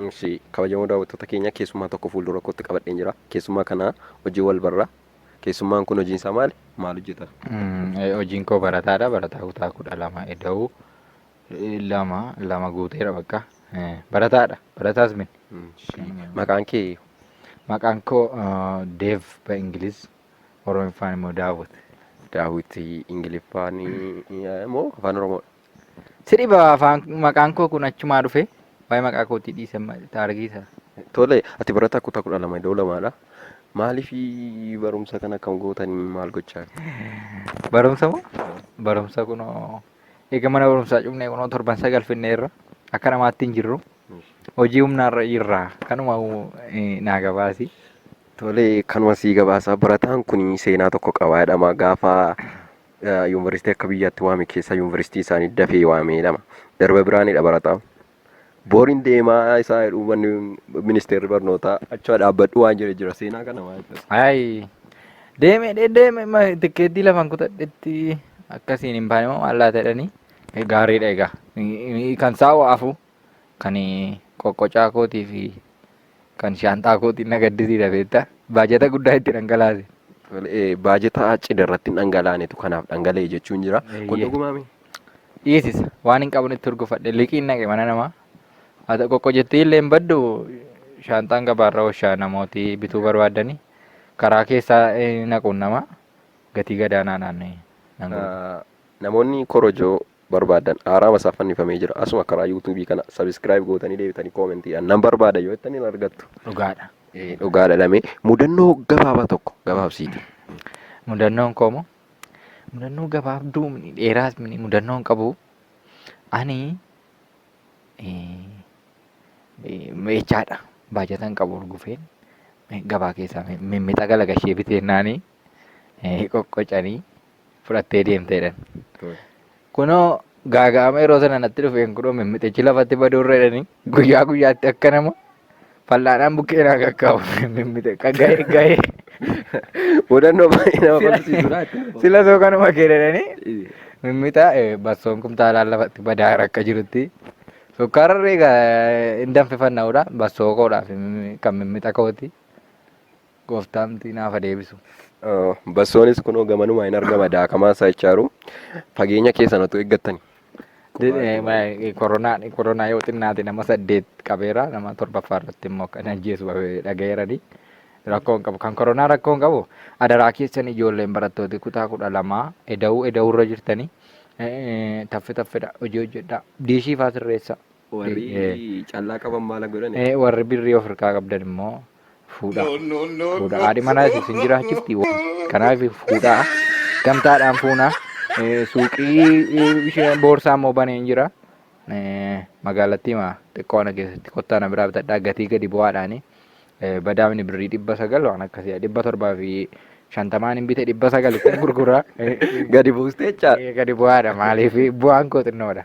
Ishee kabajamoo daawwattoota keenya keessummaa tokko fuuldura kootti qabadheen jira. Keessummaa kana hojii wal barra. Keessummaan kun hojiin isaa maali? Maal hojjeta? Hojiin koo barataadha. Barataa kutaa kudha lama eda'u. lama lama guuteera bakka barataadha barataas min Maqaan kee maqaan koo deev ba ingiliz oromiffaan immoo daawwit daawwit ingiliffaan moo afaan oromoo si dhiba afaan maqaan koo kun achumaa dhufe waa'ee maqaa kootii dhiise taargiisa tole ati barataa kutaa kudha lama iddoo lamaadha maaliif barumsa kana akkam gootanii maal gochaa barumsa moo barumsa kunoo Eega mana barumsaa cufnee kunoo torban sagal finneerra akka namaatti hin jirru. Hojii humnaarra jirra. Kanuma eh, naa gabaasi. Tole kanuma sii gabaasa barataan kun seenaa tokko qaba jedhama gaafa eh, yuunivarsiitii akka biyyaatti waame keessa yuunivarsiitii isaanii dafee waame jedhama. Darba biraanidha barataa. Booriin deemaa isaa jedhu manni ministeerri barnootaa achi dhaabbadhu waan jedhe jira seenaa kana maal ibsa? Ayi. Deeme dhe- deeme ma tikkeettii lafan kutadhetti akkasiin hin baane moo maal laata jedhanii eh, gaariidha egaa. Eh, Kan saawwa afu kan eh, qoqqocaa kootii fi Kan shaanxaa kootiin na gaddisiisa beektaa? Baajata guddaa itti dhangalaase. Baajata cidha irratti hin dhangalaanetu kanaaf dhangala'e jechuun jira. Kun dhugumaami? Dhiisisa. Waan hin qabnetti hurgufadhe liqiin naqe mana namaa. Haa qoqqo jettee illee hin baddu shaanxaan gabaarra ooshaa namooti bituu barbaadanii karaa keessaa naquun nama gatii gadaanaadhaan nan gurgura. Namoonni korojoo barbaaddan haaraama isaaf fannifamee jira asuma karaa yuutuubii kana sabiskiraayib gootanii deebitanii koomentiidhaan nan barbaada yoo jettanii hin argattu dhugaadha Eh, dhugaadha lamee mudannoo gabaabaa tokko gabaabsiiti mudannoon koomo mudannoo gabaabduu mini dheeraas mini mudannoon qabu ani eh, eh, meechaadha baajatan qabu urgufeen eh, gabaa keessaa mi- mimmixa galagashee biteennaanii qoqqocanii fudhattee deemte jedhan. Kunoo gaaga'ama yeroo sana natti dhufeen kunoo mimmixichi lafatti baduu irra jedhanii guyyaa guyyaatti akka nama fal'aanaan bukkee naa qaqqabu mimmixe gahee gahee Mudannoo baay'ee nama kolfisiisudha. sila soo kanuma kee jedhanii mimmixa eh, bassoon kumtaalaan lafatti badaa akka jirutti sukkaararri egaa hin danfifanna'udha bassoo koodhaaf mimmi- kan mimmixa kooti Gooftaamti naaf haa deebisu. Bassoonis kunoo gamanumaa hin argama daakamaa isaa jechaaru fageenya keessan otuu eeggattani. Koronaa koronaa yoo xinnaate nama saddeet qabeera nama torbaffaa irratti immoo kan ajjeesu dhagayeerani. Rakkoo hin qabu. Kan koronaa rakkoo hin qabu. Adaraa keessan ijoolleen barattooti kutaa kudha lamaa eda'uu eda'uu irra jirtanii taffe taffedha hojii hojjedhaa. Diishii faa sirreessa. Warri Eh. callaa qaban maala godhani? Eh, warri birrii of harkaa qabdan immoo fuudhaa. No, no, no, Fuudha. no. Haadhi manaa isin jiraachifti. Kanaaf fuudhaa. Gamtaadhaan fuunaa. Eh, Suuqii eh, ishee boorsaa immoo baneen jira. Eh, Magaalattii maa xiqqoo ana keessatti kottaa na biraa bitadhaa gatii gadi bu'aadhaani. Eh, Badaamni birrii dhibba sagal waan akkasii dhibba torbaa fi shantamaan hin bite dhibba sagal ittiin gurguraa. Eh, Gadi buustee jechaa. eh, Gadi bu'aadha maaliif bu'aan koo xinnoodha.